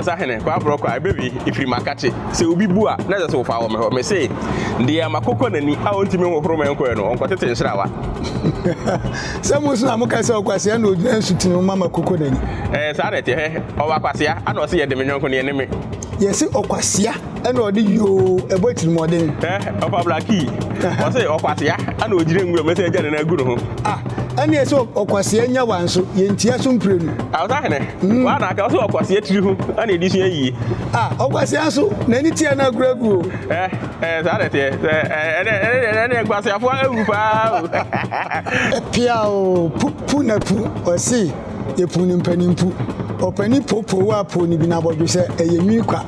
Sahene, kɔ aborɔ kɔ a, ɛbɛwie, ɛfiri makakye. Sɛ obi bu a, na ɛsɛ sɛ wofa wɔ me hɔ. Mese, deɛ makokɔ n'ani a ɔntumi nhohoro me nkɔɛ no, ɔnkɔtete nhrawa. Sɛ mo nso na moka sɛ, Ɔkwasea na ɔgyina nsutene ho ma makokɔ n'ani. Ɛɛ, saa na ɛteɛ. Hwɛ, ɔwɔ akwasea, ɛna ɔse, Yɛde me yɔnko no, yɛne me. Yɛse ɔkwasea. ɛna ɔde yoo ɛbɔ atirimuɔden. ɛ ɔfa blaki ɔsɛ ɔkwasea ɛna ɔgyina nwura mu sɛ agya ne nagu ne ho. ah ɛne ɛsɛ ɔkwasea nya wa nso yɛntia so mprenu. awosahene mm. wa na aka ɔsɛ ɔkwasea tiri ho ɛna ɛdi sua yie. ah ɔkwasea nso n'ani tia no aguragu o. ɛ ɛ saa na ɛteɛ sɛ ɛnɛ ɛnɛ ɛnɛ kwaseafoɔ awu paa o. ɛpia o pu pu na pu ɔse. Yɛpuu no mpanimpu. Ɔpanin poopoo a poo no bi no abɔdwe sɛ ɛyɛ nwi kwa.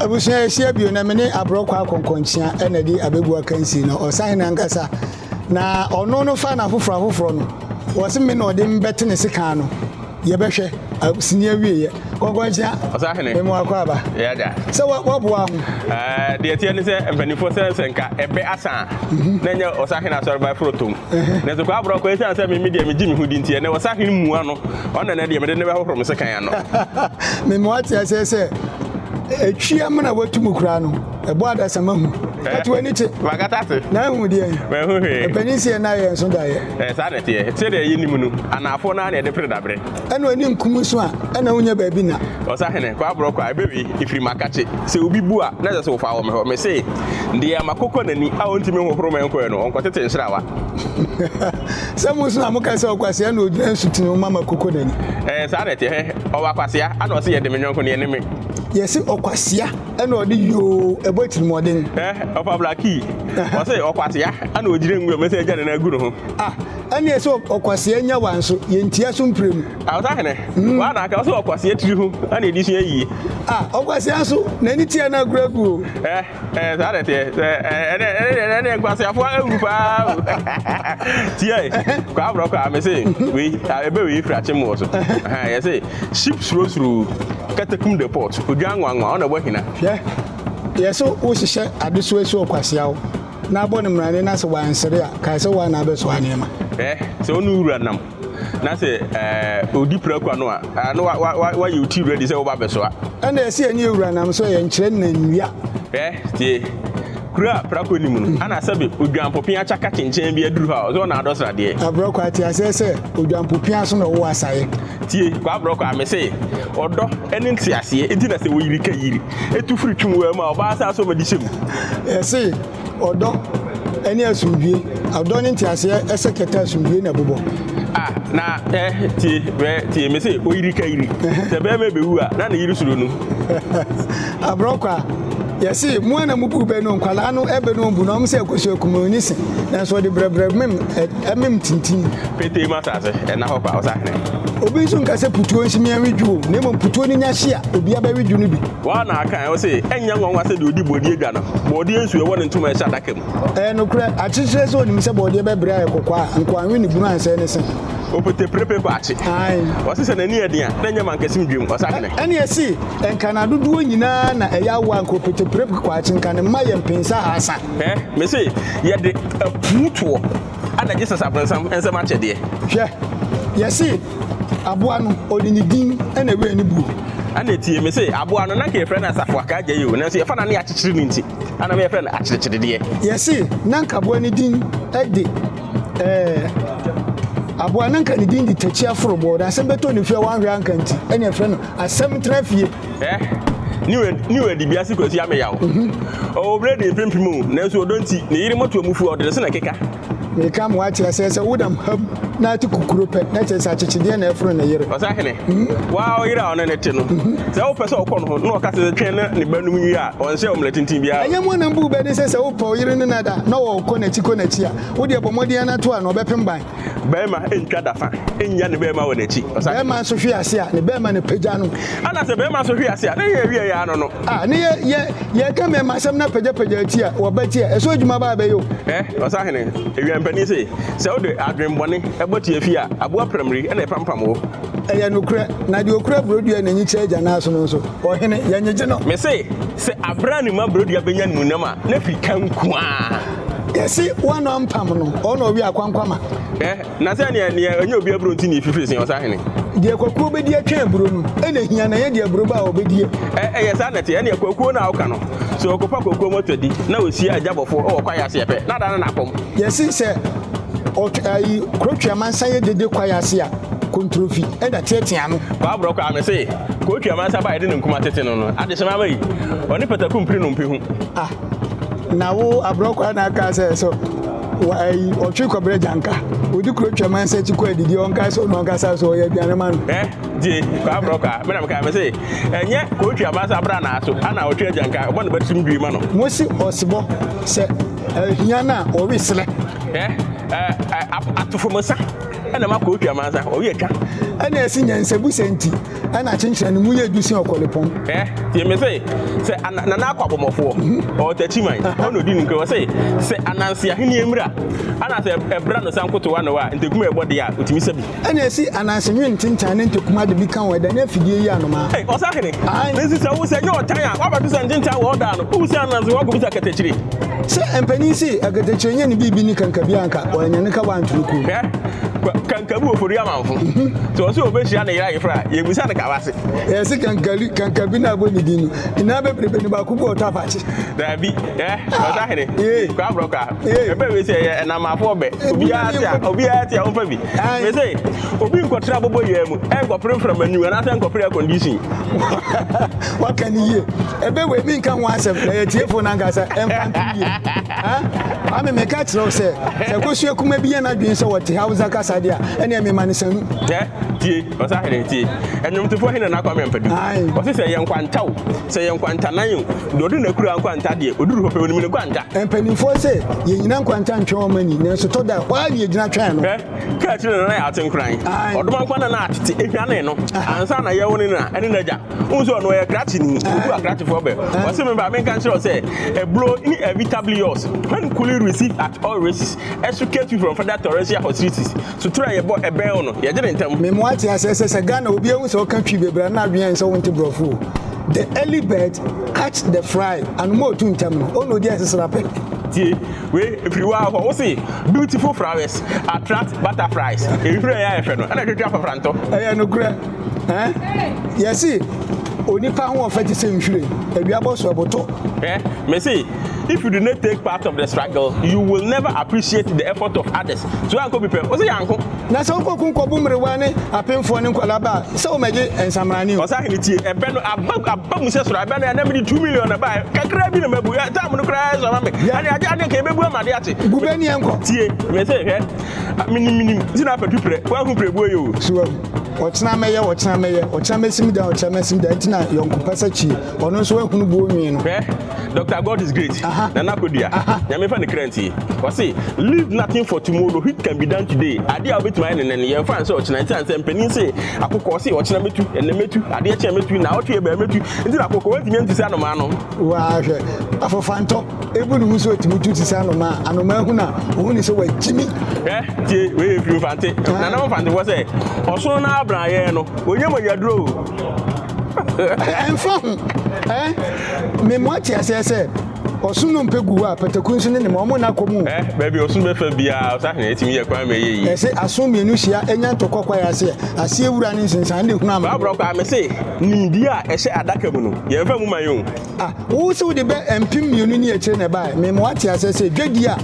Abusua yɛhyia bio na me ne aborɔkɔ akɔnkɔnkyea na ɛde abɛbu akansie no. Ɔsahene ankasa na ɔno no fa no afoforɔ afoforɔ no. Wɔse me na ɔde me bɛte ne sekan no. Yɛbɛhwɛ. Sini awieɛ. Kɔnkɔnkyea, Ɔsahene. mema w'akwaaba Yeah, da. sɛ wa- waboa ho. Ɛɛ, deɛ ɛteɛ ne sɛ mpanimfoɔ sɛ sɛ nka ɛbɛ asa a na ɛnyɛ ɔsahene asɔreba ɛforo tom nanso kɔ aborɔ kɔ ɛsiane sɛ me me deɛ megye me ho di nti ɛnɛ ɔsahene mua no ɔno na ɛnɛ deɛ mede ne bɛhohoro me sekan ano Mema wate aseɛ sɛ ɛtwi amena watu mu koraa no, ɛbɔ adasama hu. Kate w'ani kye, magata ase na ahu deɛ mahu hwee ɛpanin si yɛ na yɛ nso daeɛ. Ɛɛ, saa na ɛteɛ sɛdeɛ yɛnim no anaafoɔ no ara na ɛde pere daberɛ ɛna ɔni nkumu so a ɛna wonya baabi na. Ɔsahene, kɔ aborɔ kɔ a, ɛbɛwe ɛfiri makakye. Sɛ obi bu a, na ɛsɛ sɛ wofa wɔ me hɔ. Mese, deɛ makokɔ n'ani a ɔntumi nhohoro me nkɔɛ no, ɔnkɔtete nhrawa. Sɛ mo nso na moka sɛ ɔkwasea na ɔgyina nsutene ho ma makokɔ n'ani. Ɛɛ, saa na ɛteɛ. Hɛ, ɔwɔ akwasea, ana ɔse yɛde me yɔnko no yɛne me. Yɛse ɔkwasea, ɛna ɔde yoo, ɛbɔ atirimuɔden. Hɛ, ɔfa blakii. Ɔse ɔkwasea, ana ɔgyina ngu a, mese agya ne nan agu ne ho. Ah. ɛne ɛsɛ ɔkwasea nya wa nso yɛntia so mprɛ mu awotahene mm. wa na aka ɔsɛ ɔkwasea tiri ho ɛne ɛdi sua yie a ɔkwasea nso n'ani tia no agorɔ agu o eh, eh, saa dɛ teɛ ɛne nkwaseafoɔ awu paa o tiɛ kɔ aborɔ kɔ a me se wei ɛbɛ wei firi akye mu wɔ so yɛ se ship surosuro katakum the port odwa nwanwa ɔna ɛbɔ hina yɛ so wohyehyɛ adesoa su ɔkwasea wo Na bɔ no mmarane na sɛ wansere a, kae sɛ woa na abɛsoa nneɛma. Eh, sɛ ɔne wura nam na sɛ eh, ɔdi prako ano a, eh, na wayɛ wo ti ready sɛ woba bɛsoa. Ɛna ɛsɛ yɛne yɛ wura nam so yɛ nkyerɛ nnannua. Eh, tie, kura a prako nim no, ana sɛbe odwampopea akyaka kyenkyɛn bi aduru hɔ a, ɔsɛ ɔna adɔ sradeɛ. Abrɔkɔ, ate aseɛ sɛ odwampopea so na ɔwɔ asaeɛ. Tie, kwabrɔ kwaa, mese, ɔdɔ ne nteaseɛ nti na sɛ woyiri ka yiri, tu firi twe waa mu a, ɔbaa saa so ɔmadi hyɛ mu. Yɛse, ɔdɔ ne asomdwie, ɔdɔ ne nteaseɛ ɛsɛ kɛtɛ asomdwie na ɛbobɔ. Ah, na ɛ tie bɛ tie me se oyiri ka yiri sɛ bɛrima bɛwu a na ne yiri suro no aborɔkɔ a yɛse mu ana mu buru bɛ no nkwadaa no ɛbɛ no mbu na ɔmo sɛ ɛkɔso akum ne se nanso ɔde brɛbrɛ mem ɛmem tintin. Petee mu asase, ɛnna hɔ kwa, ɔsahene. Obi nso nka sɛ putuo nsi me ɛnwe dwo, na mmom putuo no nya hye a, obia bɛwe dwo no bi. Woa na aka ɛ, ɔse, ɛnyɛ nwanwa sɛ deɛ ɔdi bɔdeɛ dwa no, bɔdeɛ nsuo ɛwɔ ne ntoma ɛhyɛ adaka mu. Ɛyɛ nokorɛ, akyekyerɛ sɛ ɔnim sɛ bɔdeɛ bɛbrɛ ayɛ kɔkɔɔ a, nkoa nwe ne bunu ansɛe ne se. Opete prepe kɔ akye. Ɔse sɛ n'ani ɛden a, na ɛnyɛ mankasim dwam, ɔsahene. Ɛne ɛse, nka n'adodoɔ nyinaa na ɛyɛ awoɔ a, nka opete prepe kɔ akye, nka ne mma yɛ mpensa ahaasa. Ɛɛ, mese yɛde apuw toɔ na Jesus abronsam nsam akyɛdeɛ. Hwɛ, yɛse aboa no ɔde ne din na ɛwɛɛ ne buo. Ɛna tie, mese aboa no na nka yɛfrɛ no asafo akaagya yi o, nanso yɛfa no a na yɛakyekyere no nti, ɛna yɛfrɛ no akyerɛkyerɛdeɛ. Yɛse na nka aboa no din de, ɛɛ, aboa na nka ne din de takyi aforobɔɔ, na asɛm bɛtɔ ne fie a wanhwɛ anka nti, ɛna yɛfrɛ no asɛm tena fie. ɛ ne wura ne wura de biase kwasi ameyaw ɔwɔ bere de mpempem o nanso ɔdɔ nti ne yere mɔto amufu a ɔde ne se na ɛkeka meka mo ate asɛ sɛ wodam ham na ate kukuro pɛ na kyerɛ sɛ akyekyedeɛ na ɛforo ne yere ɔsa hene mhm. waa ɔyere a ɔne ne te no mhm. sɛ wopɛ sɛ ɔkɔ no ho na ɔka sɛ twɛn na ne ba num wie a ɔnhyɛ ɔmmerɛ tenten biara ɛnyɛ mu anam bu bɛne sɛ sɛ wopɛ ɔyere no nada na ɔkɔ n'akyi kɔ n'akyi a wodeɛ bɔ mmɔden anato a na ɔbɛpem ban Bɛrima ntwa da fa nnya ne bɛrima wɔ n'akyi. Ɔsa. Bɛrima nso hwe ase a ne bɛrima na pagya no. Ana sɛ bɛrima nso hwe ase a ne yɛ awie yɛ ano no. A ne yɛ yɛ yɛka mmarima asɛm na pagyapagya ti a wɔba ti a ɛsɔ adwuma ba abɛyɛ o. Ɛ ɔsahene awiampanin se sɛ wode adwenbɔne bɔ ti afi a aboa pramiri na ɛpampam wo. Ɛyɛ nokorɛ, na deɛ ɔkura burodua na enyi kyɛ agya no aso no nso, ɔhene, yɛnyegye no. Mese sɛ aberɛ a ne mma burodua bɛnya ne mu nam a, n'afi ka nko ara. Yɛsi wɔn na ɔmpam no, ɔno ɔwi akwankwama. Ɛ na sɛ neɛ neɛ ɛnyɛ obi aburo nti ne efifiri sin ɔsahene. Deɛ kwakuo bɛdi atwɛn aburo no ɛna ehia na ɛnyɛ deɛ aburo ba a ɔbɛdie. Ɛ ɛyɛ saa na ɛte ɛneɛ kwakuo no a ɔka no sɛ ɔkɔfa kwakuo mɔtɔ adi na ɔsia agyabɔfoɔ wɔ kwaeɛ ase ɛpɛ na ada no n'akɔm. Yɛsi sɛ ɔt ayi kurotwe amansa yɛ dede kwaeɛ ase a kontrofi ɛna teatea ano. Kwabrɔ kwaa mese kurotwe amansa ba a yɛde ne nkuma tete no no adehyema ama yi ɔne pataku mpire no mpɛ hu. na wo aborɔ kwaa na aka sɛ so ayi ɔtwe kɔbrɛ gyanka odi kuro twɛm ansa ti kɔ adidi ɔnka sɛ ɔno ankasa so ɔyɛ aduane ma no. ɛ die kwaa aborɔ kwaa mena meka mɛ se ɛnyɛ kɔtwi abansa abra naa so ana ɔtwe agyanka ɔbɔ ne bɛtum due ma no. mo se ɔsebɔ sɛ ahia no a ɔwe serɛ. ɛ ɛ atofo mo sa ɛna ma kɔtwi amansa ɔwe atwa. ɛna ɛse nyansabu sɛ nti. ɛna kyenkyerɛ no mu yɛ du sɛ ɔkɔlepɔn. ɛ tie me se sɛ ana nana akɔ abɔmmɔfoɔ mhm. ɔtakyiman ɔna ɔdi ne nkura wɔ se sɛ ananse ahenni mmra ana sɛ ɛbra no san koto ano a ntakuma ɛbɔ deɛ a ɔtumi sɛ bi ɛna ɛsi ananse nwe ntentan ne ntakuma de bi ka wɔn ɛda ne afidie yi anomaa ɛ ɔsa hene nsi sɛ wo sɛ nyɛ ɔtan a wabɛto sɛ ntentan wɔ ɔda no wowu sɛ ananse wɔn akɔbisa katakyire sɛ mpanin si akatakyire nyɛ ne biribi ne kankabi anka wɔanya ne ka wɔanto no kuo kankabi wɔ fori amanfo sɛ ɔsɛ ɔbɛhyia ne yera yefra yɛbisa no kawa se yɛse kankali kankabi na abɔ ne din no nyinaa bɛbrebe ne baako bi ɔtɔ afakye daabi ɛ ɔsa hene kwa borɔ kwa ɛbɛ wei sɛ ɛyɛ ɛnamafoɔ bɛ obiara te a obiara te a ɔmfa bi me se obi nkɔtra bɔbɔ yɛ mu ɛnkɔpere mframa anwum anaasɛ nkɔpere air condition waka ne yie ɛbɛ wei menka ho asɛm na yɛtiefo no ankasa ɛmfa nto yie Ame meka kyerɛ wo sɛ, sɛ akosua kuma bi yɛ n'adwene sɛ ɔte Hausa kasa de a, ɛneɛ mema no sanu. Hwɛ, tie, ɔsahene, tie. Ɛnwomtofoɔ he na n'akwame ampadu. Ɔse sɛ ɛyɛ nkwanta o, sɛ ɛyɛ nkwantanan o, deɛ ɔde n'akura nkwanta deɛ, ɔduru hɔ pɛ, ɔnim ne nkwanta. Mpanimfoɔ se, yɛnnyina nkwanta ntwɛn wɔn ani, nanso tɔ da, hɔ ara ne yɛgyina twɛn no. Hwɛ, kaa akyire na na yɛate nkoran. Ɔdomankwa na na atete, ɛhwane no, ansa na yɛwo ne na, ɛne n'agya. Wohu sɛ ɔno ɔyɛ krakyeni, obu akrakyefoɔ bɛ. Ɔse me ba menka nkyerɛ wo sɛ ɛburo ne inevitably yours when cooling received at all races ɛso came sweet from further torrential hostilities. So twerɛ a yɛbɔ ɛbɛn wo no yɛgye no ntɛm. Me mo ate aseɛ sɛ sɛ Ghana obi ahu sɛ woka Twi bebree a na adwene ayɛ sɛ wonte borɔfo o. The early bird catch the fry, anoma a ɔtu ntɛm no ɔna ɔdi ɛsesere apɛ. Tie wei ɛfiri waa hɔ wose beautiful flowers attract butterflies, nhwiren a ɛyɛ fɛ no ɛna ɛtwetwe afafrantɔ. Ɛyɛ nokorɛ. Ɛn, yɛse onipa ho ɔfɛ te sɛ nhwiren, awia bɔ so ɛbotɔ. Eh, mese, if you do not take part of the struggle, you will never appreciate the effort of others. So yɛankɔ bi pɛ, ɔse yɛanko. Na sɛ wokɔ kun kɔbo mmerewa ne apemfoɔ ne nkwadaa ba a, sɛ wɔmɛgye nsamrane o. Ɔsahene tie, ɛbɛ no aba, aba mu sɛ soro, ɛbɛ no ɛnɛ mede two million na ɛbaeɛ, kakra bi na mabu, ɛ, time no koraa ɛsɔ ma me, ɛne agye adeɛ nka yɛbɛbu ama adeɛ akye. Gu bɛ neɛ nkɔ. Tie, mese, hwɛ, menim, menim, nti na apɛ tu prɛ, woahu prɛbuo yɛ o. So wahu. ɔkyena mɛyɛ ɔkyena mɛyɛ ɔkyena mɛsim da ɔkyena mɛsim da nti na yɔnkopɛ sɛ kyi ɔno nso ahunu buo nwii no hwɛ dr god is great na na akɔdua nyame fa ne kra nti ɔse leave nothing for tomorrow which can be done today adeɛ a wobɛtumi ayɛ nenɛ no yɛmfa nsɛ ɔkyena nti ansɛ mpanin se akokɔ ɔse ɔkyena mɛtu ɛnɛ mɛtu adeɛ kyɛn mɛtu na ɔtwe ɛbɛɛ mɛtu nti na akokɔ wantumi antu sɛ anomaa no waahwɛ afofantɔ Ebu ne ho sɛ otumi tu te sɛ anomaa. Anomaa hu no a, ohu ne sɛ wakyimi. Hwɛ, tie, wei yɛ firi Mfante. Nana Mfantefo sɛ, ɔsono no abranyɛɛ no, ɔnyɛ mogyaduro o. Ɛmfa ho. Memmɔ ate aseɛ sɛ ɔsono mpɛ gu hɔ a, pataku nso ne ne ma, wɔn nna kɔ mu o. Baabi a ɔsono bɛfa biara, ɔsahene atumi yɛ kwan ma ɛyɛ yie. Ɛse, asono mmienu hyia, ɛnya ntɔkwa kwaeɛ aseɛ. Aseɛ wura ne nsensan de hunu amane. Bra borɔ koraa, mese, nimdeɛ a ɛhyɛ adaka mu no, yɛmfa mu ma yɛn o. Ah, wo se wode bɛ mpem mmienu ne akyire na ɛbaeɛ. Mema wate aseɛ sɛ dwadie a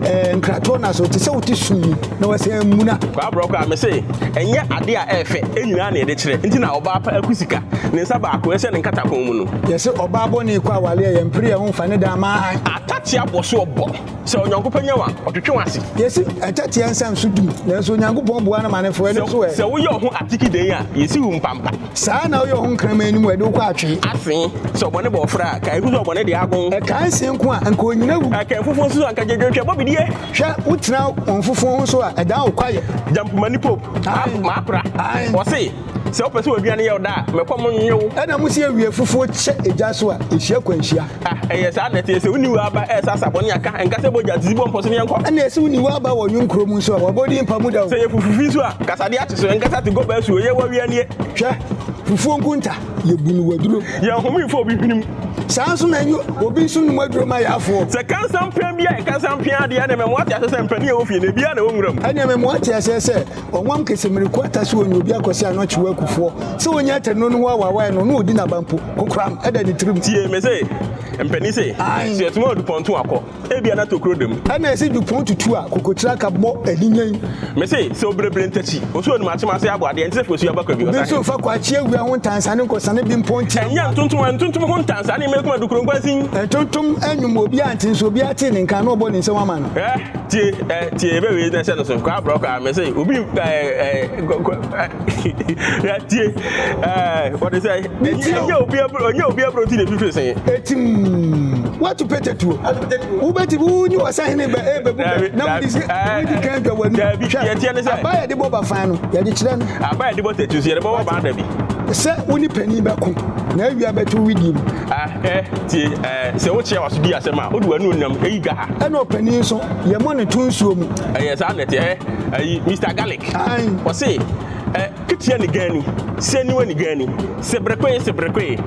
eh, nkratoɔ no aso te sɛ wote sum mu na wɔsɛ mmuna. Kwaa borɔkɔ a, mese ɛnyɛ adeɛ a ɛyɛ fɛ nyinaa na yɛde kyerɛ. Nti na ɔbaa pa aku sika, ne nsa baako ɛhyɛ ne nkatakɔn mu no. Yɛse ɔbaa bɔne kɔ aware a, yɛmpere yɛn ho mfa ne da mmaa han. Atatea bɔ so ɔbɔ, sɛ Onyankopɔn nya wo a, ɔtwetwe w'ase. Yɛse atatea nsa nso dum, nanso Onyankopɔn boa no ma no foro ɛno nso ɛ. Sɛ woyɛ wo ho atiki den a, yɛsi wo mpampa. Saa ara na woyɛ ɔho nkraman no mu a ɛde wo kɔ atwe. Ase sɛ ɔbɔne bɔ ɔfra a, kae hu sɛ ɔbɔne de agon. Ɛkaa nse nko a, anka onyina wu. Ɛkaa afufuo nso a, anka gyedwon hwɛ bɔ bidie. Hwɛ, wotena wɔn fufuo ho nso a, ɛdan wo kwaeɛ. Gyampomani Pope, Aane. M'apra, Aane. Ɔse, sɛ wopɛ sɛ w'aduane yɛ wo dɛ a, mɛkɔm nnwe wo. Ɛna mo se awia fufuo kyɛ egya so a, ɛhyia kwanhyia. Ah, ɛyɛ saa na ɛteɛ sɛ wonni wo aba ɛresasa bɔne a ka ɛnka sɛ bogya didi bɔ mpɔ so ne yɛnkɔ. Ɛne ɛsɛ wonni wo aba wɔ nwom kuro mu nso a wɔbɔdi mpa mu da o. Sɛ yɛ fufu fi nso a kasadeɛ akye so ɛnkasa te gɔba asuo yɛ wɔ awia nie. Hwɛ fufuo nkunta yɛ bu no waduro. Yɛ nhome mfa obi hwene mu. Saa nso na ɛnyɛ obi nso nnom aduro ma yɛ afoɔ. Sɛ kansan pɛn bi a yɛ kansan pia adeɛ ɛne mɛmoa te aseɛ sɛ mpanin a ɛwɔ fie no ebiara na ɛwɔ nwura mu. Ɛne mɛmoa te aseɛ sɛ Ɔnwam kese mmiriko ata so onyi obi akɔse ano kyew akufoɔ. Sɛ onya atɛnnuro no ho awaawaeɛ no, na ɔdi n'aba mpo. Kokoram da ne tirim. Tie me se, mpanin se, Aane. Sɛ yɛtoma Dupont to akɔ, ebia na tokuro da mu. Ɛna yɛse Dupont tu a, kokokyire aka bɔ aninyan. Me se, sɛ obirebire ntakyi, osuo num akyem ase abɔ adeɛ, nti sɛ fekɔsuo aba kwabi, ɔsane. Obi nso mfa kwakye awia ho ntansane nkɔsane Bimpont tia mma. Ɛnyɛ ntontom a ntontom ho ntansane mma ekuma dukuro nkwansin. Ntontom nnwom obiara nte nso obiara tee ne nka a, na ɔbɔ ne nsam ama no. Hwɛ! tie ɛ eh, tie ebe wei na ɛhyɛ no so kɔ abrɔ kɔ amɛ sɛ obi ɛ ɛ ɛ tie ɛ wɔde sɛ ɛnyɛ obi aburo ɛnyɛ obi aburo ti na ebi firi sɛn. etim watu pete tuo wubeti wunyi wasahin bɛ e bɛ bu bɛ na wudi si wudi kan jɔ wani hwɛ aba yɛ de bɔ ba fan no yɛ de kyerɛ no. aba yɛ de bɔ tɛtu so yɛ de bɔ wɔ ba dabi. sɛ wo ne panyin bɛko na awia bɛto widi mu A Hwɛ, tie, ɛ, sɛ wokyerɛ w'aso di asɛm a, wode w'ani onam eyi dwa ha. Ɛna ɔpanin nso, yɛmmɔ no to nsuo mu. Ɛyɛ saa na ɛteɛ, ɛ, ayi, Mister Garlic. Aane. Ɔse, ɛ, keteɛ ne gaani, sɛ niwa ne gaani, sɛ berekoe, sɛ berekoe.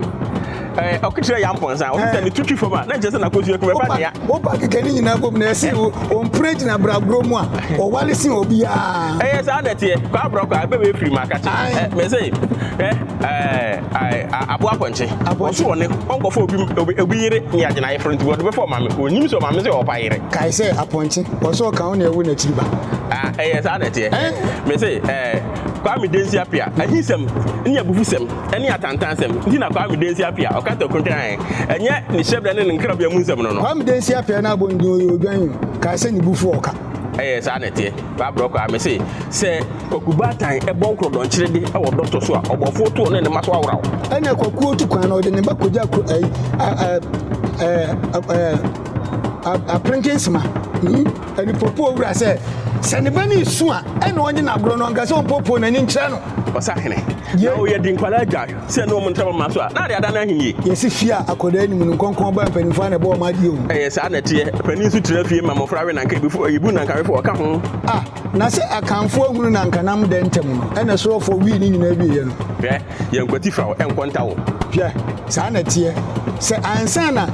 Ɛ, ɔkekyerɛ yɛ ampɔnsa, ɔse sɛ ne to twi fam a, na nkyerɛ sɛ n'akosua kumi, ɛfa nea. Wopa keka ne nyinaa bom na ɛse ɔmpire gyina bragorɔ mu a, ɔwale sen obiara. Ɛyɛ saa na ɛteɛ, kwaa brɔkwaa, bɛbɛ firi mu akakye. Aane. Ɛ, mese, hwɛ, ɛ, ɛ. Ae, aboa pɔnkye. Ɔse ɔne ɔnkɔfa obi obi obi yere ne agye n'ayeforo nti wɔde bɛfa ɔmaame. Ɔnnim sɛ ɔmaame sɛ ɔɔpa yere. Kae sɛ apɔnkye, ɔse ɔka wo na ɛwo n'akyiri ba. Ah, ɛyɛ saa na ɛteɛ. Ɛn? Mese, ɛɛ, Kwame Densi Apia, ahinsɛm ne abufusɛm ne atantansɛm nti na Kwame Densi Apia ɔka tɔ kontran ae, ɛnyɛ ne hyɛbrɛ ne ne nkrabea mu nsɛm no no. Kwame Densi Apia na abɔ no din ɔyɛ odwan o, kae sɛ ne bu fu ɔka. Ɛyɛ saa na ɛteɛ. Babrɔ koraa me se sɛ Kwaku Baatan bɔ nkorɔdɔnkyere de wɔ dɔtɔ so a, ɔbɔfoɔ to ɔne ne mma so awora o. Ɛna Kwakuo tu kwan na ɔde ne ba kɔgya kuro ɛyi apentensima ɛde hmm? popo owura sɛ sɛ ne ba no esu a ɛna ɔnye no agorɔ no ɔnka sɛ ɔmpopo n'ani nkyerɛ no. Ɔsahene. Yɛ. Na ɔyɛ di nkwadaa gya. sɛ ne wɔn ntam ama so a, na ade ada no ahenni. Yɛsi fie a akwadaa nni mu no, nkɔnkɔn baa mpanimfoɔ a na ɛbɔ wɔn adeɛ o. Ɛyɛ saa na ɛteɛ. Panin nso tena fie ma mmɔfra we nanka ebi fo, ebu nanka we fo, ɔka ho. A, na sɛ Akanfoɔ ahunu nanka nam dɛ ntam no, ɛna Sorofoɔ wii ne nyinaa wieeɛ no. Hwɛ, yɛn nkwati fa wo, ɛnkɔ nta wo. Hwɛ, saa na ɛteɛ. Sɛ ansa na.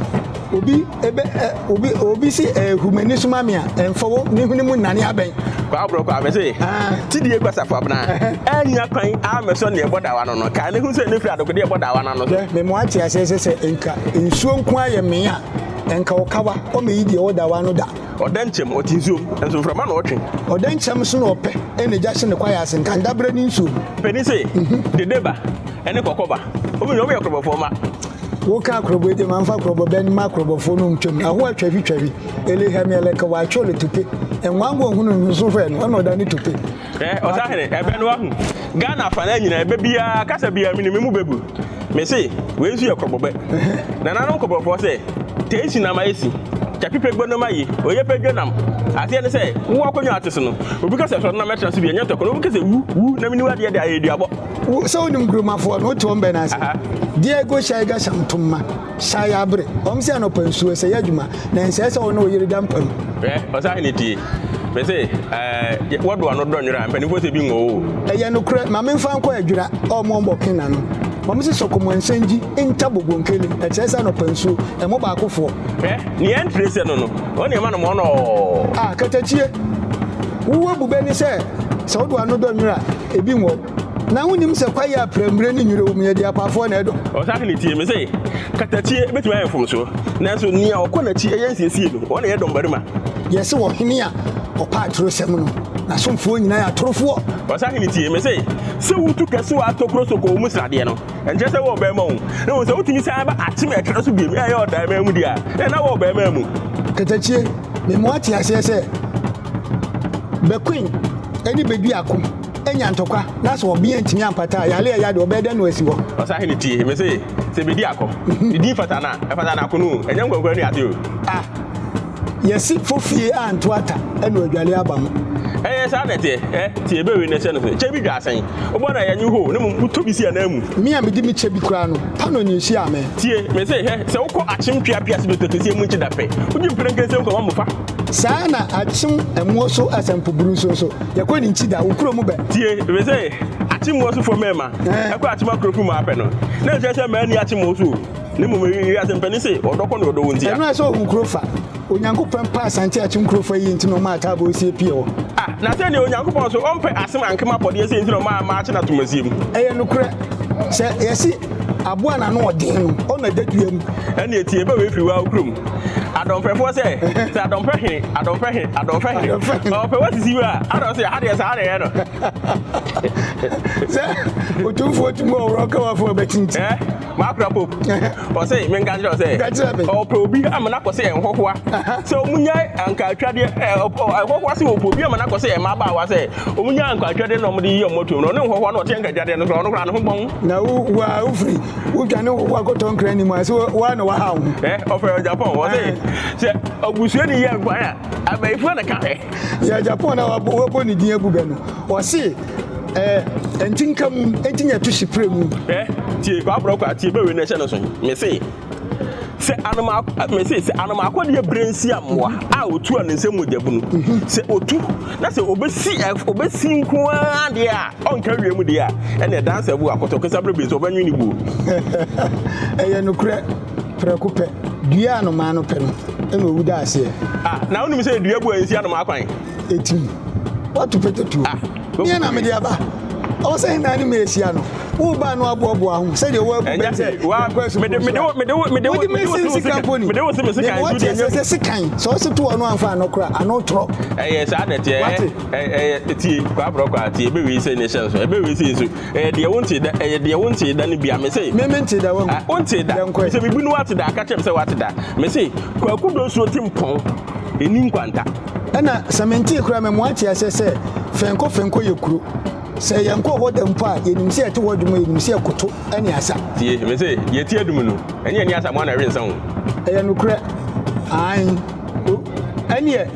Obi ebe ɛ obi obi si ɛ humani suma mi a ɛnfɔ wo ne hwene mu nnane abɛn. Kwaa borɔ kwaa mese tidie kwa safo abena annya kwan ammɛsɔ nea ɛbɔ dawa no no kaa ne ho sɛ ne firi adokodeɛ bɔ dawa no ano so. Hwɛ me mo ate aseɛ sɛ sɛ nka nsuo nko ara yɛ mee a ɛnka ɔkawa ɔmɛ yi deɛ ɛwɔ dawa ano da. Ɔda nkyɛm ɔte nsuom nso mframa na ɔtwe. Ɔda nkyɛm so na ɔpɛ ɛna gya hye ne kwaeɛ ase nka ndaberɛ ne nsuom. Panin se dede ba ɛne kɔkɔ ba ɔmu nyinaa ɔmu yɛ korɔbɔfoɔ mma. Woka akorɔbɔ de ma mfa akorɔbɔ bɛ mma akorɔbɔfoɔ no ntwam na ahoa twavi twavi elehɛmi ɛlɛka wɔatwe le tope nwango nhunu nso hwɛ no ɔna ɔda ne tope. Hwɛ ɔsahene ɛbɛ no wahu Ghana afa no nyina ɛbɛ biara kasa biara mene me mu bɛbu mese wei nso yɛ korɔbɔ bɛ nananom korɔbɔfoɔ sɛ tei si nam ayɛ si twapi pɛ gbo nom aye oye pɛ dwo nam aseɛ ne sɛ wowɔ akonnwa ate so no obi kasa sɔre nam ɛtra so bi ɛnyɛ ntɔkwa na obi kasa wu wu na mene wu adeɛ de ayɛ aduabɔ. sɛ wonim nkuromafoɔ no wote wɔn bɛn ase diego hyɛ ga hyɛ ntoma hyɛ ayɛ abere wɔn sɛ anɔpa nsuo sɛ yɛ adwuma na nsɛ sɛ wɔne ɔyere da mpa mu ɔsan ne tie me se ɛɛ wɔdo ano dɔ nwera mpanimfoɔ sɛ bi nwɔ o ɛyɛ nokorɛ ma memfa nkɔ adwira ɔmo ɔmbɔ ke na no wɔn se sɔkɔmɔ nsɛngyi nta bobo nkeli ɛkyerɛ sɛ anɔpa nsuo ɛmo baakofoɔ hwɛ ne yɛn tire sɛ no no wɔn nneɛma no mɔnɔ a katakyie wowɔ bu bɛni sɛ sɛ wodo ano dɔ nwera Ebi wɔ na wonim sɛ kwae a prɛmire ne nwura wɔ mu yɛ deɛ apaafoɔ na ɛdɔ. Ɔsahene tie me se, katakyie bɛtumi ayɛ mfomsoɔ, nanso nea ɔkɔ n'akyi yɛ nsiesie no, wɔn na ɛyɛ dɔmmarima. Yɛse ɔhene a ɔpa atorosɛm no, n'asomfoɔ nyinaa yɛ atorofoɔ. Ɔsahene tie me se, sɛ wotu kasuwa atokoro so kɔ wɔn mu sradeɛ no, ɛnkyerɛ sɛ wɔwɔ bɛmma o, na mmom sɛ wotumi san ba akyem ɛkra so biom, ɛyɛ ɔdan mmaa mu deɛ a, ɛnna na wɔwɔ bɛmma mu. Katakyie, mema woate aseɛ sɛ Bequeen ne Bediako anya ntɔkwa na sɛ ɔbea ntumi ampata a, yare a ɛyɛ ade ɔbɛyɛ dɛn na asi hɔ? Ɔsahene tie me se, sɛ Bediako ne din fata no a, ɛfata no akono o, ɛnyɛ nkwankura ne ade o. Ah, yɛse fo fie anto ata na ɔadwale aba mu. Ɛyɛ saa na ɛteɛ, ɛ, tie bere wei na ɛhyɛ no so. Kyɛ bi dwa asɛn, wobɔ no a ɛnyɛ hoo, na mmom wotɔ bi si ananmu. Me a mede me kyɛ bi koraa no, paanoo na ehyiaa me. Tie me se, hwɛ, sɛ wokɔ akyem pia pia se dɔtɔ kɛseɛ mu nkye da pɛ, wogye mprɛnkɛnsɛm kɔma mmofra. saa ara na akyem mmuo so asampuburu nso nso yɛkɔ ne nkyi da wo kuro mu bɛ. tie ebi sɛ akyem mmuo so fo mmarima ɛkɔ akyem akuro fo mu apɛ no na nkyɛn sɛ mmaa ni akyem mmuo so ne mmom wiase mpɛni se ɔdɔ kɔ ne ɔdɔ wo ntia. ɛno ɛsɛ ohun kuro fa onyankopɔn pɛ asante akyem kuro fo ɛyɛ nti na ɔma ataabɔ sie pie hɔ. ah na sɛ deɛ onyankopɔn so ɔmpɛ asem ankema pɔdeɛ sɛ nti na ɔma ama akye na tomasie mu. ɛyɛ nokorɛ sɛ yɛsi. Aboa na ano ɔden no, ɔna ɛda dua mu. Ɛne ɛti ɛbɛ wei firi waa kurom. Adɔmpɛfoɔ sɛ, sɛ adɔmpɛ hene, adɔmpɛ hene, adɔmpɛ hene. Ɔpɛ wa sisi wei a, ana ɔsɛ ha deɛ saa na ɛyɛ no. Sɛ ɔtumfoɔ tumi ɔworɔ ɔka wafoɔ bɛtinti. Ɛ, makora pop. Ɔsɛ, menka kyerɛ ɔsɛ. Ka kyerɛ me. Ɔpɛ obi amena kɔ sɛ ɛnhɔhoa. Sɛ ɔmunyae anka atwadeɛ, ɛ, ɔpɛ, ɛhɔhoa sɛ ɔpɛ obi amena kɔ sɛ ɛmabaawa sɛ. Wɔn nyaa nkwa adwadeɛ na wɔn de yi wɔn atom no, ɔne nhɔhoa na ɔte nka adwadeɛ no koraa, ɔno koraa ne ho bɔn. Na wo wo a wofiri wotwa ne nhɔhoa kɔtɔ nkra anim a, sɛ wo a na waha wo ho. Ɛ ɔfɛ wɔ Japan, ɔse sɛ ɔbusuani yɛ nkwa a, abayifoɔ na ka hwɛ. Yɛ Japan na wɔabɔ ne din agu bɛ no, ɔse ɛ ɛnti nka mu, ɛnti nyɛ to hye prɛ mu. Ɛ tie kwabrɔ kwa, tie bɛ wei na ɛhyɛ no so, mese. sɛ anomaako mese sɛ anomaako deɛ bere nsi amoa a otu a ne nsam mogya bu no sɛ otu na sɛ obesi obesi nko ara deɛ a ɔnka wie mu deɛ a ɛna ɛdansa bu akɔtɔ kesa bere bi nso ɔbɛnwe ne buo. ɛyɛ nokorɛ prɛko pɛ dua anomaa no pɛ no ɛna owu da aseɛ. ah na wonim sɛ dua bu a nsi anomaa kwan. ɛtim woato pɛtɛtuo ah, neɛ na mede aba ɔwɔ sɛ hena ne merehyia no woba no aboaboa ho sɛdeɛ woabubɛ sɛ nkɔ asukuwode mɛsɛm sika mpo ni deɛ woateɛ sɛ sɛ sekan sɛ wose to ɔno amfa ano kora ano torɔ ɛyɛ saa na ɛteɛ ɛyɛ tie kwaborɔ kɔ a tie ɛbɛwei sɛ ne hyɛ nso ɛbɛwei sɛ nso ɛyɛ deɛ wonte da ɛyɛ deɛ wonte da no bia me se mente da wonte da sɛ mebu no wate da aka kyɛm sɛ wate da me se kwakudo nsuo te mpɔn Ɛnni nkwanta. Ɛna sɛ mentee koraa ma mu ate aseɛ sɛ Fɛnkɔ Fɛnkɔ yɛ kuro. Sɛ yɛnkɔɔ hɔ da mpo a, yɛnim sɛ yɛte hɔ adum a yɛnim sɛ ɛkoto ne asa. Tie, me se, deɛ ɛti adum no, ɛne ɛne asa mo ano ɛrensa o. Ɛyɛ nokorɛ, aane o. Ɛneɛ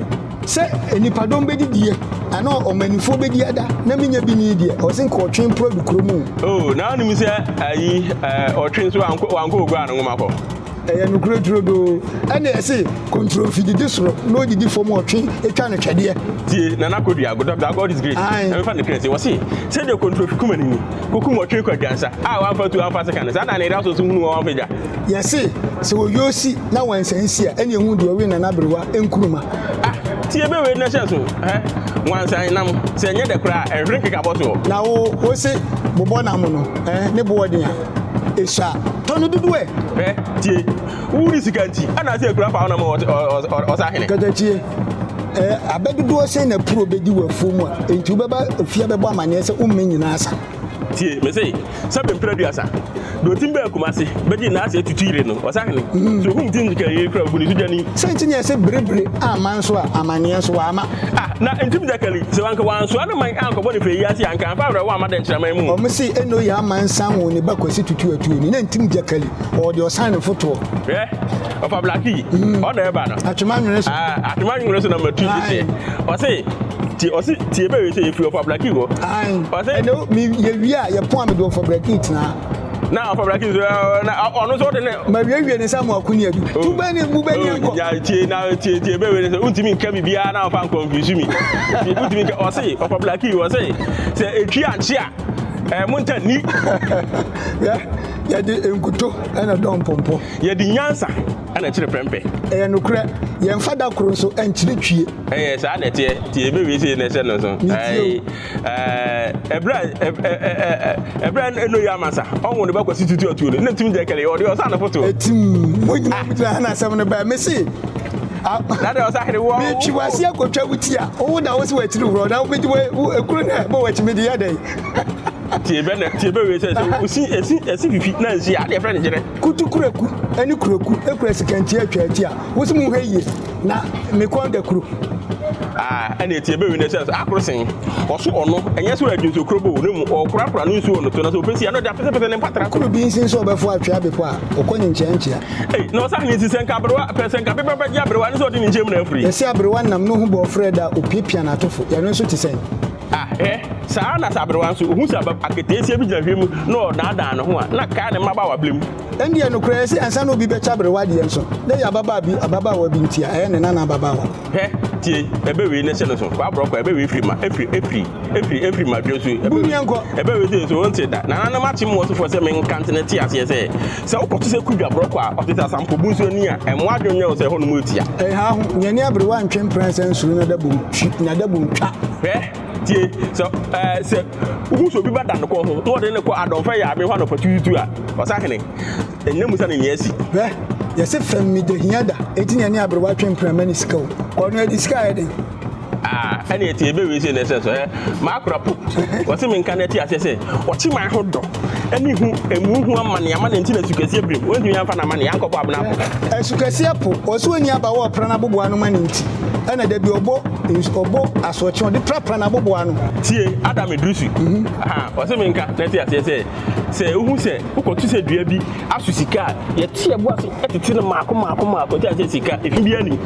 sɛ nnipadɔm bɛdidie anaa ɔmanifoɔ bɛdi ada na mennya bi nii deɛ, ɔse nka ɔtwe mporɔ du kuro mu o. O, na wonim sɛ ayi, ɔtwe nso wankɔ, wankɔ Oguaa no nwoma hɔ. Ɛyɛ nokorɛ turodoo. Ɛnneɛ ɛse, kontromfi didi soro na ɔdidi fam ɔtwe twa no twɛdeɛ. Tie Nana Kodua, Dɔkta God is great, Ae. Nyame fa no kra sie. Ɔse, sɛdeɛ kontromfi kuma no ni, kɔkum ɔtwe kɔ adwansa, a wamfa atuo amfa aseka no, saa na Anayera nso hunu wɔn a wamfa gya. Yɛse, sɛ wɔwie osi na wɔansa ansi a, ɛnneɛ hu deɛ ɔwe Nana Aberewa Nkrumah. Ah, tie bɛ wei na hyɛ nso, hɛ, Wansan nam, sɛ ɛnyɛ dɛ koraa a, ɛnhwere nkekabɔ soɔ. Na wo, wose, bobɔ nam no, eh, ne boɔ den a. ehyia. Tɔ no dodoɔ ɛ. Hwɛ tie wo ne sika nti ɛna sɛ ekura fa na mo ɔsa hene. Kɛtɛkye ɛ abɛdodoɔ sɛ na puro bɛdi wɔ afuo mu a nti wobɛba efie abɛbɔ amaneɛ sɛ wo mmɛ nyinaa sa. Tie me se sɛ bɛmpira duasa deɛ ɔtim bɛɛ kuma se bɛgye nyinaa sɛ tutu yire no ɔsa hene mm. so hum tim kɛyɛ kura gu ne so gyani. Sɛ nti ne ɛsɛ berebere ama nso a amaneɛ nso wama. Ah, Na ntim dakali, sɛ anka wɔansoa ne man ankɔbɔ no hwee yi ase a, anka amfa awerɛhow amma dɛnkyɛmman mu. Wɔn se, Ene oye ama nsan won ne ba Kwasi Tutu atuo ni, na ntim dakali, ɔwɔ deɛ ɔsan ne fotoɔ. Hwɛ, ɔfa blaki yi, ɔn na ɛba no. Atwema nwene so. Aah, atwema nwene so na matu yi seɛ. Ɔse, Tie, ɔse, tie bɛwe sɛ yɛfiri ɔfa blaki hɔ. Ae, ɛnɛ o, me, yɛwie a, yɛpon a mede ɔfa blaki tenaa. na afɔbra kii so na ɔno nso ɔde ne. ma wiewie ne nsa mu akonia bi oh. tu bɛ ne mu bɛ ne oh, nkɔ. ya tie na tie tie bɛ wele sɛ ntumi nka bi biara na ɔfa nkɔ nfinsu mi ntumi nka ɔse ɔfɔbra kii ɔse sɛ etwi ankye a ɛɛ eh, mo nta ni. yɛ yɛde nkuto ɛna dɔn pɔmpɔ. yɛde nyansa ɛna kyerɛ pɛmpɛ. ɛyɛ nukurɛ yɛn fada koro nso ɛnkyerɛ twie. ɛyɛ saa na ɛteɛ tie bɛ wie sɛ yɛn na ɛhyɛ no nso. Eh, ɛberɛ eh, eh, ɛberɛ ɛno yɛ amansa ɔnwo ne ba kwasi tutu atuo no na tumi gya kɛlɛ ɔde ɔsa ne foto ɛtim mogyina mogyina ha na asɛm no bɛɛ mese metwi wase akɔtwa wo ti a wowo na wo sɛ wakyiri worɔ na wobɛgye ɛkuro no ɛbɔ wakyi mede yɛ dɛn tie bɛ na tie bɛ wei sɛ sɛ osi esi esi fifi na nsi adeɛ fɛn ne gyerɛ. kutu kuraku ɛne kuraku ekura sikantia atwa ati a wosi mu hɛ yie na me kɔn da kuro. Ah, ɛna ɛti ɛbɛwi no sɛ akoro sen ɔso ɔno ɛnyɛ sɛ ɔyɛdwe nsuo kuro bo ne mu ɔkorakora no nsuo no to no sɛ ɔpɛsi ano de apɛsɛpɛsɛ ne mpatra koro bi nsi nso ɔbɛfo atwea bepɔ a ɔkɔ ne nkyɛnkyea ei na ɔsa ne nsi sɛ nka aberewa pɛ sɛ nka bepɛ bɛgye aberewa ne sɛ ɔde ne nkyɛn mu na afiri yɛsɛ aberewa nam no ho bɔ ɔfrɛ da opiapia n'atofo yɛno nso te sɛn ah ɛ saa na sɛ aberewa nso ɔhu sɛ aketeesia bi gyina hwɛ mu na ɔdaadaa ne ho a na kaa ne mmabaawa blem Ɛnde ɛyɛ nokorɛ sɛ ansa na obi bɛtwa aberewa deɛ nso, na ɛyɛ ababaa bi, ababaawa bi nti a, ɛyɛ ne nana ababaawa. Hwɛ, tie, ɛbɛwee na hyɛ no so, kɔ aborɔkɔ, ɛbɛwee firi ma, ɛfiri, ɛfiri, ɛfiri, ɛfiri ma dwoɔ nso, ɛbɛwee, Bumiɛ nkɔ. ɛbɛwee nso, nso wɔnte da. Nananom akyem mo ɔsefoɔ sɛ menka nte no, te aseɛ sɛ, sɛ wokɔto sɛ kudwa aborɔkɔ a, ɔte sɛ asampɔbu nso ani a, ɛmmɔ adwene nyɛ wo sɛ ɛhɔ nom ɛtia. Ɛha ho, nea ɛne aberewa ntwe mprɛnsa nsuro n'adabom twi, n'adabom twa. Hwɛ, tie, sɛ, ɛɛ, sɛ. Wohu sɛ obi ba da ne kɔn ho na wɔde no kɔ adɔmfɛ yaabea hɔ anɔpatutuutu a, ɔsahene nnya mu sa ne nea asi. Hwɛ! Yɛse fam mi da hia da, enti na ɛne aberewa twe mprama ne sika o. Kɔ no adi sika a ɛyɛ den. Ah, ɛne ɛte, ɛbɛwie sei na ɛsɛ so, ɛɛ, m'akora po. Wɔse menka na ɛte aseɛ sɛ, ɔkye man ho dɔ. ne hu emu ho amane ama ne nti na sukɛseɛ birim wɔntumi amfa n'amane ankɔbɔ abena po asukɛseɛ po ɔsɛ ɔni aba wɔ ɔpra no aboboa no ma ne nti ɛna da bi ɔbɔ ɔbɔ asoɔkye ɔde prapra no aboboa no tie ada medrusu mhm. ɔsɛ me nka na te aseɛ sɛ sɛ wohu sɛ wokɔto sɛ dua bi aso sika a yɛte ɛboa so ɛtete no maako maako maako te aseɛ sika ɛfi bi anim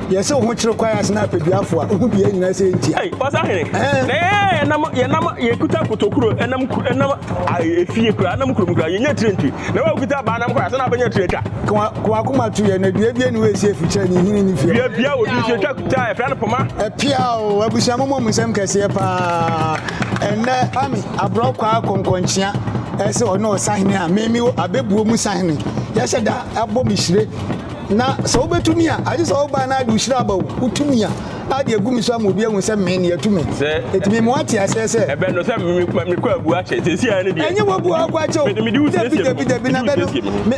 yɛsɛ wo ho kyerɛ kwae ase na apɛduafo a wohu bia nyinaa sɛ ɛntia Ei, pasa hene eh. na yɛyɛ ɛnam yɛnam yɛkuta kotokuro ɛnam ku ɛnam efie kura ɛnam kurom kura yɛnyɛ tire nti na wakuta abaa nam kora sɛ na abɛnya tire atwa kawakoma to yɛ na dua bia ne wɔɛsi afikyɛ ne hini ne fie dua bia wɔ dua atwa kuta ɛfra no poma ɛpia o abusua mo mom nsɛm kɛseɛ paa ɛnɛ ami aborɔ kwaa kɔnkɔnkyea ɛsɛ ɔne ɔsahene a meme abɛbuo mu sahene yɛhyɛ da abɔ me hyire Na sɛ wobɛtumi a, agye sɛ woba na ade wohyira aba o, wotumi a, ade agu me so ama obi ahu sɛ me ne atumi. Ɛtumi mo ate aseɛ sɛ. Ɛbɛ no sɛ mekɔ abu akyɛ, sɛsi ara no deɛ. Ɛnyɛ wabu akɔ akyɛ o. Mede wo siesie me ho. Dabi na bɛ no,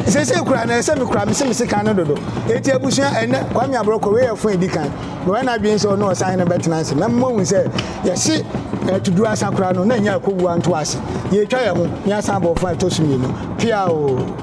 sɛsɛ kura no ɛsɛ me kura me se me sekan no dodo. Eti abusua ɛnɛ, Kwame Abrɔkɔ, wei yɛ fon edi kan. Me wɔ na adwene sɛ ɔne ɔsan hene bɛtena ase. Mɛma mo ahu sɛ yɛse ɛto duru asa kura no na ɛnyɛ akowu anto ase. Yɛtwa yɛ ho, me asan abɔ fon ɛtɔ so mmienu. Pia o.